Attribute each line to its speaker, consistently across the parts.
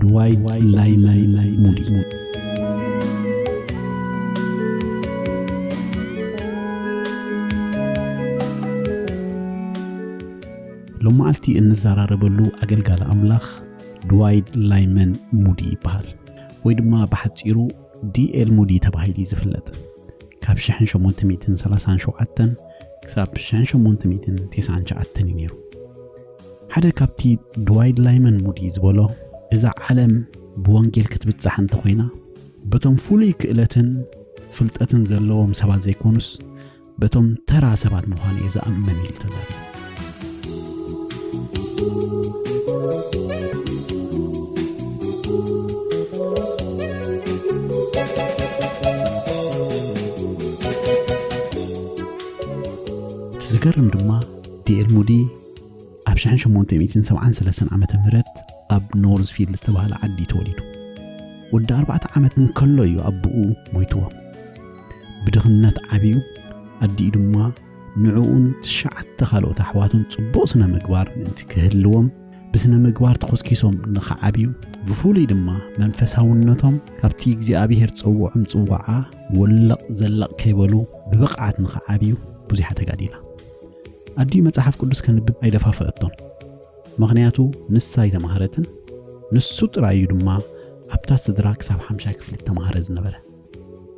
Speaker 1: ድዋይት ላይመን ሙዲ ሎመዓልቲ እንዘራረበሉ ኣገልጋሊ ኣምላኽ ድዋይድ ላይመን ሙዲ ይበሃል ወይ ድማ ብሓፂሩ ዲኤል ሙዲ ተባሂሉ እዩ ዝፍለጥ ካብ 1837 ክሳብ 1899 እዩ ነይሩ ሓደ ካብቲ ድዋይድ ላይመን ሙዲ ዝበሎ እዛ ዓለም ብወንጌል ክትብጻሕ እንተኾይና በቶም ፍሉይ ክእለትን ፍልጠትን ዘለዎም ሰባት ዘይኮኑስ በቶም ተራ ሰባት ምዃኑ እየ ዝኣምን ኢሉ ተዛሪቡ ዝገርም ድማ ዲኤል ሙዲ ኣብ 1873 ዓ ም ኣብ ኖርዝፊልድ ዝተባህለ ዓዲ ተወሊዱ ወዲ ኣርባዕተ ዓመት እንከሎ እዩ ኣቦኡ ሞይትዎ ብድኽነት ዓብዩ ኣዲኡ ድማ ንዕኡን ትሽዓተ ካልኦት ኣሕዋቱን ጽቡቕ ስነ ምግባር ምእንቲ ክህልዎም ብስነ ምግባር ተኾስኪሶም ንኽዓብዩ ብፍሉይ ድማ መንፈሳውነቶም ካብቲ እግዚኣብሔር ጽውዖም ጽዋዓ ወለቕ ዘለቕ ከይበሉ ብብቕዓት ንኽዓብዩ ብዙሕ ተጋዲላ ኣዲኡ መጽሓፍ ቅዱስ ከንብብ ኣይደፋፈአቶን፣ ምኽንያቱ ንሳ ኣይተማህረትን፣ ንሱ ጥራይ እዩ ድማ ኣብታ ስድራ ክሳብ ሓምሻይ ክፍሊ እተማህረ ዝነበረ።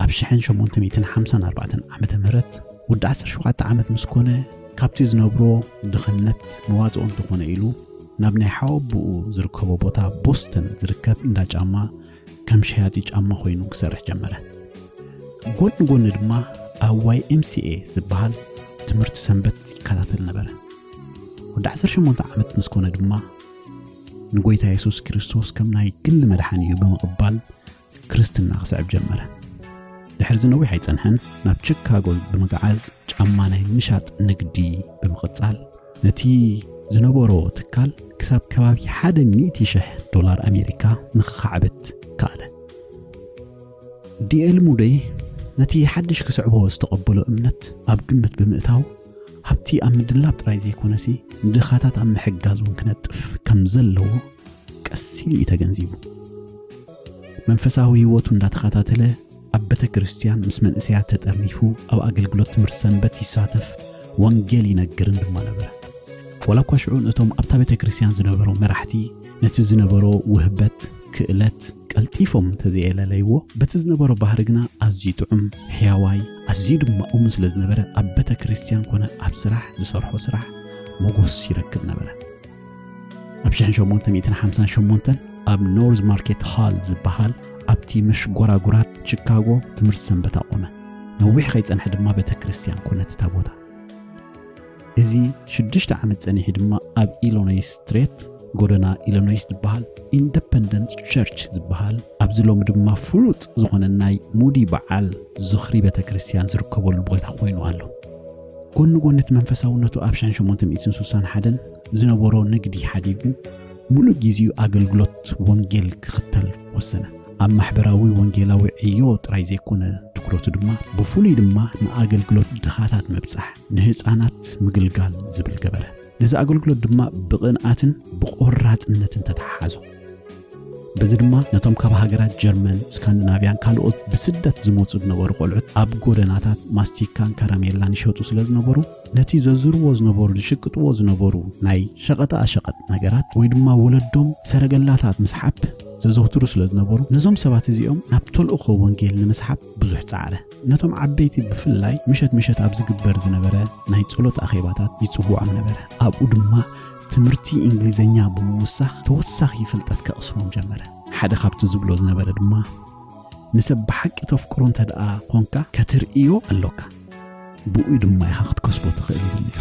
Speaker 1: ኣብ 1854 ዓመተ ምህረት ወዲ 17 ዓመት ምስ ኮነ ካብቲ ዝነብሮ ድኽነት መዋጽኦ እንተኾነ ኢሉ ናብ ናይ ሓወብኡ ዝርከቦ ቦታ ቦስተን ዝርከብ እንዳ ጫማ ከም ሸያጢ ጫማ ኮይኑ ክሰርሕ ጀመረ። ጎኒ ጎኒ ድማ ኣብ ዋይ ኤምሲኤ ዝበሃል ትምህርቲ ሰንበት ይከታተል ነበረ። ወዲ 18 ዓመት ምስ ኮነ ድማ ንጎይታ የሱስ ክርስቶስ ከም ናይ ግሊ መድሓኒ እዩ ብምቕባል ክርስትና ክስዕብ ጀመረ። ድሕሪ ዝነዊሕ ኣይጸንሐን ናብ ቺካጎ ብምግዓዝ ጫማ ናይ ምሻጥ ንግዲ ብምቕጻል ነቲ ዝነበሮ ትካል ክሳብ ከባቢ ሓደ ሚእቲ ሽሕ ዶላር ኣሜሪካ ንኽኻዕብት ከኣለ። ዲኤል ሙደይ ነቲ ሓድሽ ክስዕቦ ዝተቐበሎ እምነት ኣብ ግምት ብምእታው ሃብቲ ኣብ ምድላብ ጥራይ ዘይኮነሲ ንድኻታት ኣብ ምሕጋዝ እውን ክነጥፍ ከም ዘለዎ ቀስ ኢሉ እዩ ተገንዚቡ። መንፈሳዊ ህይወቱ እንዳተኸታተለ ኣብ ቤተክርስትያን ምስ መንእሰያት ተጠርኒፉ ኣብ ኣገልግሎት ትምህርቲ ሰንበት ይሳተፍ ወንጌል ይነግርን ድማ ነበረ። ወላ እኳ ሽዑ ነቶም ኣብታ ቤተክርስትያን ዝነበሩ መራሕቲ ነቲ ዝነበሮ ውህበት ክእለት ቀልጢፎም እንተዘየለለይዎ በቲ ዝነበሮ ባህሪ ግና ኣዝዩ ጥዑም ሕያዋይ ኣዝዩ ድማ እሙን ስለ ዝነበረ ኣብ ቤተክርስትያን ኮነ ኣብ ስራሕ ዝሰርሖ ስራሕ ሞጎስ ይረክብ ነበረ። ኣብ 1958 ኣብ ኖርዝ ማርኬት ሃል ዝበሃል ኣብቲ መሽጎራጉራት ቺካጎ ትምህርቲ ሰንበት ኣቖመ ነዊሕ ከይጸንሐ ድማ ቤተ ክርስቲያን ኮነት እታ ቦታ እዚ ሽዱሽተ ዓመት ጸኒሑ ድማ ኣብ ኢሎኖይ ስትሬት ጎደና ኢሎኖይስ ዝበሃል ኢንደፐንደንት ቸርች ዝበሃል ኣብዚ ሎሚ ድማ ፍሉጥ ዝኾነ ናይ ሙዲ በዓል ዝኽሪ ቤተ ክርስቲያን ዝርከበሉ ቦታ ኮይኑ ኣሎ ጎኒ ጎኒ እቲ መንፈሳውነቱ ኣብ ሻን ሸሞንተ ሚእትን ስሳን ሓደን ዝነበሮ ንግዲ ሓዲጉ ምሉእ ግዜኡ ኣገልግሎት ወንጌል ክኽተል ወሰነ። ኣብ ማሕበራዊ ወንጌላዊ ዕዮ ጥራይ ዘይኮነ ትኩረቱ ድማ ብፍሉይ ድማ ንኣገልግሎት ድኻታት ምብጻሕ፣ ንህፃናት ምግልጋል ዝብል ገበረ። ነዚ ኣገልግሎት ድማ ብቕንኣትን ብቖራጽነትን ተተሓሓዞ። በዚ ድማ ነቶም ካብ ሃገራት ጀርመን፣ ስካንዲናቭያን ካልኦት ብስደት ዝመጹ ዝነበሩ ቆልዑት ኣብ ጎደናታት ማስቲካን ከረሜላን ይሸጡ ስለ ዝነበሩ ነቲ ዘዝርዎ ዝነበሩ ዝሽቅጥዎ ዝነበሩ ናይ ሸቐጣ ኣሸቐጥ ነገራት ወይ ድማ ወለዶም ሰረገላታት ምስሓብ ዘዘውትሩ ስለ ዝነበሩ ነዞም ሰባት እዚኦም ናብ ተልእኾ ወንጌል ንምስሓብ ብዙሕ ጻዕረ ነቶም ዓበይቲ ብፍላይ ምሸት ምሸት ኣብ ዝግበር ዝነበረ ናይ ጸሎት ኣኼባታት ይጽውዖም ነበረ ኣብኡ ድማ ትምህርቲ እንግሊዘኛ ብምውሳኽ ተወሳኺ ፍልጠት ከቕስሞም ጀመረ ሓደ ካብቲ ዝብሎ ዝነበረ ድማ ንሰብ ብሓቂ ተፍቅሮ እንተ ደኣ ኾንካ ከትርእዮ ኣሎካ ብኡ ድማ ኢኻ ክትከስቦ ትኽእል ይብል ነይሩ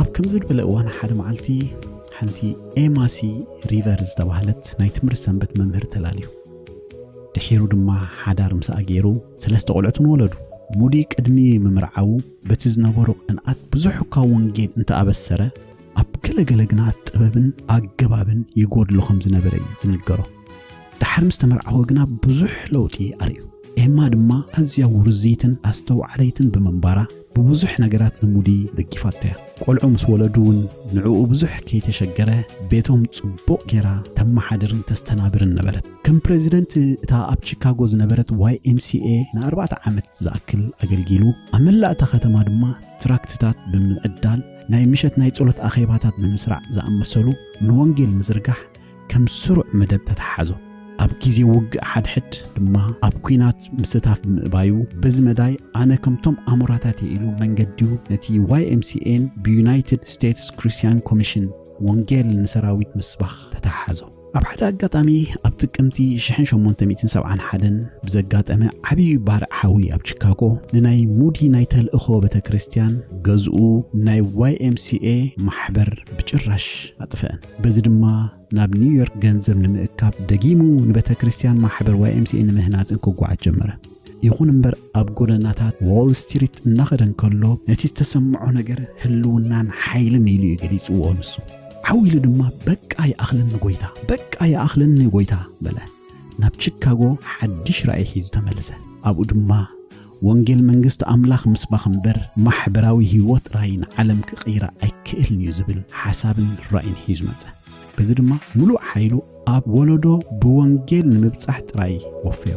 Speaker 1: ኣብ ከምዚ ዝበለ እዋን ሓደ መዓልቲ ሓንቲ ኤማሲ ሪቨር ዝተባህለት ናይ ትምህርቲ ሰንበት መምህር ተላልዩ ድሒሩ ድማ ሓዳር ምስኣ ገይሩ ሰለስተ ቆልዑትን ወለዱ ሙዲ ቅድሚ ምምርዓዉ በቲ ዝነበሩ ቅንኣት ብዙሕ እኳ ወንጌል እንተኣበሰረ ኣብ ገለገለ ግና ጥበብን ኣገባብን ይጎድሎ ከም ዝነበረ እዩ ዝንገሮ ድሓር ምስ ተመርዓወ ግና ብዙሕ ለውጢ ኣርእዩ ኤማ ድማ ኣዝያ ውርዝይትን ኣስተውዓለይትን ብምንባራ ብብዙሕ ነገራት ንሙዲ ደጊፋቶ'ያ። ቆልዑ ምስ ወለዱ'ውን ንዕኡ ብዙሕ ከይተሸገረ ቤቶም ጽቡቕ ጌራ ተመሓድርን ተስተናብርን ነበረት። ከም ፕረዚደንት እታ ኣብ ቺካጎ ዝነበረት YMCA ንኣርባዕተ ዓመት ዝኣክል ኣገልጊሉ። ኣብ መላእ እታ ከተማ ድማ ትራክትታት ብምዕዳል፣ ናይ ምሸት ናይ ጸሎት ኣኼባታት ብምስራዕ ዝኣመሰሉ ንወንጌል ምዝርጋሕ፣ ከም ስሩዕ መደብ ተተሓዞ። ኣብ ግዜ ውግእ ሓድሕድ ድማ ኣብ ኩናት ምስታፍ ብምእባዩ በዚ መዳይ ኣነ ከምቶም ኣሞራታት እየ ኢሉ መንገዲኡ ነቲ YMCAን ብዩናይትድ ስቴትስ ክሪስቲያን ኮሚሽን ወንጌል ንሰራዊት ምስባኽ ተተሓሓዞ። ኣብ ሓደ ኣጋጣሚ ኣብ ጥቅምቲ 1871 ብዘጋጠመ ዓብዪ ባርዕ ሓዊ ኣብ ቺካጎ ንናይ ሙዲ ናይ ተልእኾ ቤተ ክርስቲያን ገዝኡ ናይ YMCA ማሕበር ብጭራሽ ኣጥፍአን። በዚ ድማ ናብ ኒውዮርክ ገንዘብ ንምእካብ ደጊሙ ንቤተክርስትያን ማሕበር YMCA ንምህናጽን ክጓዓዝ ጀመረ። ይኹን እምበር ኣብ ጎደናታት ዎል ስትሪት እናኸደ እንከሎ ነቲ ዝተሰምዖ ነገር ህልውናን ሓይልን ኢሉ እዩ ገሊጽዎ። ንሱ ዓው ኢሉ ድማ በቃ ይኣኽለኒ ጐይታ፣ በቃ ይኣኽለኒ ጐይታ በለ። ናብ ቺካጎ ሓድሽ ራእይ ሒዙ ተመልሰ። ኣብኡ ድማ ወንጌል መንግስቲ ኣምላኽ ምስባኽ እምበር ማሕበራዊ ህይወት ጥራይ ንዓለም ክቕይራ ኣይክእልን እዩ ዝብል ሓሳብን ራእይን ሒዙ መጸ። በዚ ድማ ምሉእ ሓይሉ ኣብ ወለዶ ብወንጌል ንምብጻሕ ጥራይ ወፈዮ።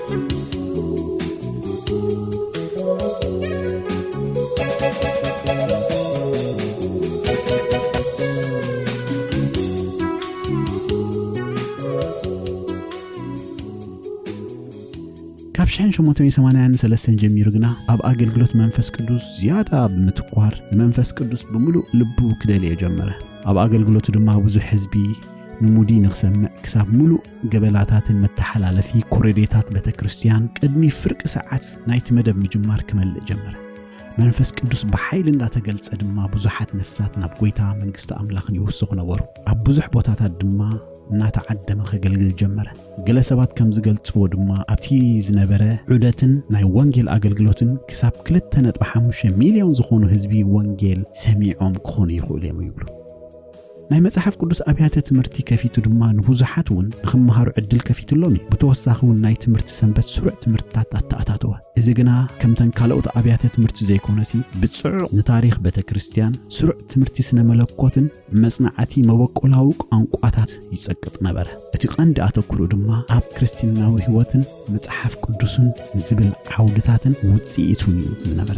Speaker 1: ሸ883 ጀሚሩ ግና ኣብ ኣገልግሎት መንፈስ ቅዱስ ዝያዳ ብምትኳር ንመንፈስ ቅዱስ ብምሉእ ልቡ ክደልዮ ጀመረ ኣብ ኣገልግሎቱ ድማ ብዙሕ ህዝቢ ንሙዲ ንክሰምዕ ክሳብ ምሉእ ገበላታትን መተሓላለፊ ኮረዴታት ቤተ ክርስቲያን ቅድሚ ፍርቂ ሰዓት ናይቲ መደብ ምጅማር ክመልእ ጀመረ። መንፈስ ቅዱስ ብሓይሊ እንዳተገልጸ ድማ ብዙሓት ነፍሳት ናብ ጎይታ መንግስቲ ኣምላኽን ይውስኹ ነበሩ። ኣብ ብዙሕ ቦታታት ድማ እናተዓደመ ከገልግል ጀመረ። ገለ ሰባት ከም ዝገልጽዎ ድማ ኣብቲ ዝነበረ ዑደትን ናይ ወንጌል ኣገልግሎትን ክሳብ 2.5 ሚልዮን ዝኾኑ ህዝቢ ወንጌል ሰሚዖም ክኾኑ ይኽእሉ እዮም ይብሉ። ናይ መጽሓፍ ቅዱስ ኣብያተ ትምህርቲ ከፊቱ ድማ ንብዙሓት እውን ንኽመሃሩ ዕድል ከፊትሎም እዩ። ብተወሳኺ እውን ናይ ትምህርቲ ሰንበት ስሩዕ ትምህርትታት ኣተኣታተወ። እዚ ግና ከምተን ካልኦት ኣብያተ ትምህርቲ ዘይኮነሲ ብጽዑቕ ንታሪኽ ቤተ ክርስቲያን፣ ስሩዕ ትምህርቲ ስነ መለኮትን መጽናዕቲ መበቆላዊ ቋንቋታት ይጸቅጥ ነበረ። እቲ ቀንዲ ኣተኩሩ ድማ ኣብ ክርስትናዊ ሕይወትን መጽሓፍ ቅዱስን ዝብል ዓውድታትን ውጽኢቱን እዩ ዝነበረ።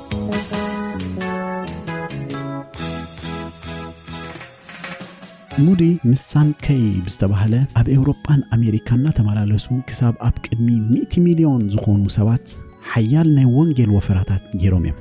Speaker 1: ሙዲ ምስ ሳንከይ ብዝተባህለ ኣብ ኤውሮጳን ኣሜሪካን እናተመላለሱ ክሳብ ኣብ ቅድሚ 100 ሚልዮን ዝኾኑ ሰባት ሓያል ናይ ወንጌል ወፈራታት ገይሮም እዮም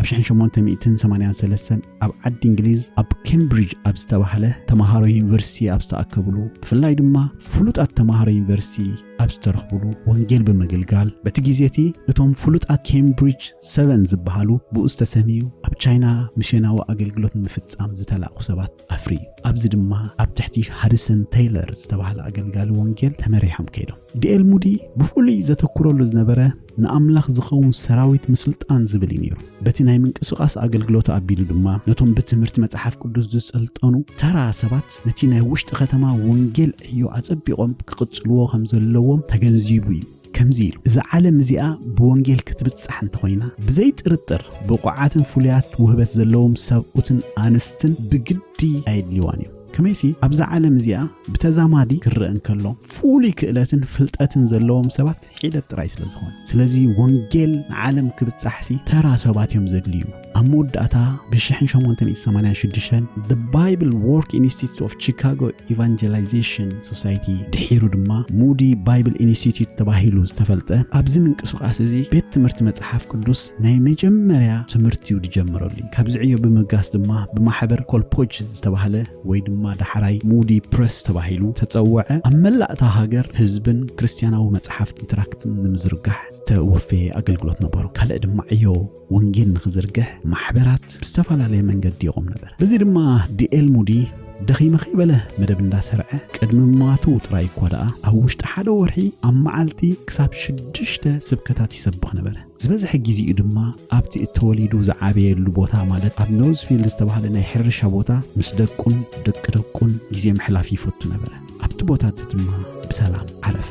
Speaker 1: ኣብ 1883 ኣብ ዓዲ እንግሊዝ ኣብ ኬምብሪጅ ኣብ ዝተባህለ ተማሃሮ ዩኒቨርሲቲ ኣብ ዝተኣከብሉ ብፍላይ ድማ ፍሉጣት ተማሃሮ ዩኒቨርሲቲ ኣብ ዝተረኽብሉ ወንጌል ብምግልጋል በቲ ግዜ እቲ እቶም ፍሉጣት ኬምብሪጅ ሰቨን ዝበሃሉ ብኡ ዝተሰምዩ ኣብ ቻይና ሚስዮናዊ ኣገልግሎት ንምፍጻም ዝተላእኩ ሰባት ኣፍርዩ። ኣብዚ ድማ ኣብ ትሕቲ ሃሪሰን ተይለር ዝተባህለ ኣገልጋሊ ወንጌል ተመሪሖም ከይዶም። ዲኤል ሙዲ ብፍሉይ ዘተኩረሉ ዝነበረ ንኣምላኽ ዝኸውን ሰራዊት ምስልጣን ዝብል እዩ ነይሩ። በቲ ናይ ምንቅስቓስ ኣገልግሎት ኣቢሉ ድማ ነቶም ብትምህርቲ መጽሓፍ ቅዱስ ዝሰልጠኑ ተራ ሰባት ነቲ ናይ ውሽጢ ከተማ ወንጌል ዕዮ ኣጸቢቖም ክቕጽልዎ ከም ዘለዎም ተገንዚቡ እዩ። ከምዚ ኢሉ፣ እዛ ዓለም እዚኣ ብወንጌል ክትብጻሕ እንተኾይና፣ ብዘይ ጥርጥር ብቑዓትን ፍሉያት ውህበት ዘለዎም ሰብኡትን ኣንስትን ብግዲ ኣየድልይዋን እዩ። ከመይሲ ኣብዛ ዓለም እዚኣ ብተዛማዲ ክረአ እንከሎ ፍሉይ ክእለትን ፍልጠትን ዘለዎም ሰባት ሒደት ጥራይ ስለ ዝኾነ ስለዚ ወንጌል ንዓለም ክብጻሕሲ ተራ ሰባት እዮም ዘድልዩ ኣብ መወዳእታ ብ1886 the bible work institute of chicago evangelization society ድሒሩ ድማ ሙዲ ባይብል ኢንስቲትዩት ተባሂሉ ዝተፈልጠ ኣብዚ ምንቅስቓስ እዚ ቤት ትምህርቲ መጽሓፍ ቅዱስ ናይ መጀመርያ ትምህርቲዩ ዝጀምረሉ ካብዚ ዕዮ ብምብጋስ ድማ ብማሕበር ኮልፖጅ ዝተባህለ ወይ ድማ ዳሕራይ ሙዲ ፕረስ ተባሂሉ ተጸውዐ፣ ኣብ መላእ እታ ሃገር ህዝብን ክርስትያናዊ መጽሓፍትን ትራክትን ንምዝርጋሕ ዝተወፈየ ኣገልግሎት ነበሮ። ካልእ ድማ ዕዮ ወንጌል ንኽዝርግሕ ማሕበራት ብዝተፈላለየ መንገዲ ይቖም ነበር። በዚ ድማ ዲኤል ሙዲ ደኺመ ከይበለ መደብ እንዳሰርዐ ቅድሚ ምሟቱ ጥራይ እኳ ደኣ ኣብ ውሽጢ ሓደ ወርሒ ኣብ መዓልቲ ክሳብ ሽዱሽተ ስብከታት ይሰብኽ ነበረ። ዝበዝሐ ግዜኡ ድማ ኣብቲ እተወሊዱ ዝዓበየሉ ቦታ ማለት ኣብ ኖዝፊልድ ዝተባህለ ናይ ሕርሻ ቦታ ምስ ደቁን ደቂ ደቁን ግዜ ምሕላፍ ይፈቱ ነበረ። ኣብቲ ቦታ እቲ ድማ ብሰላም ዓረፈ።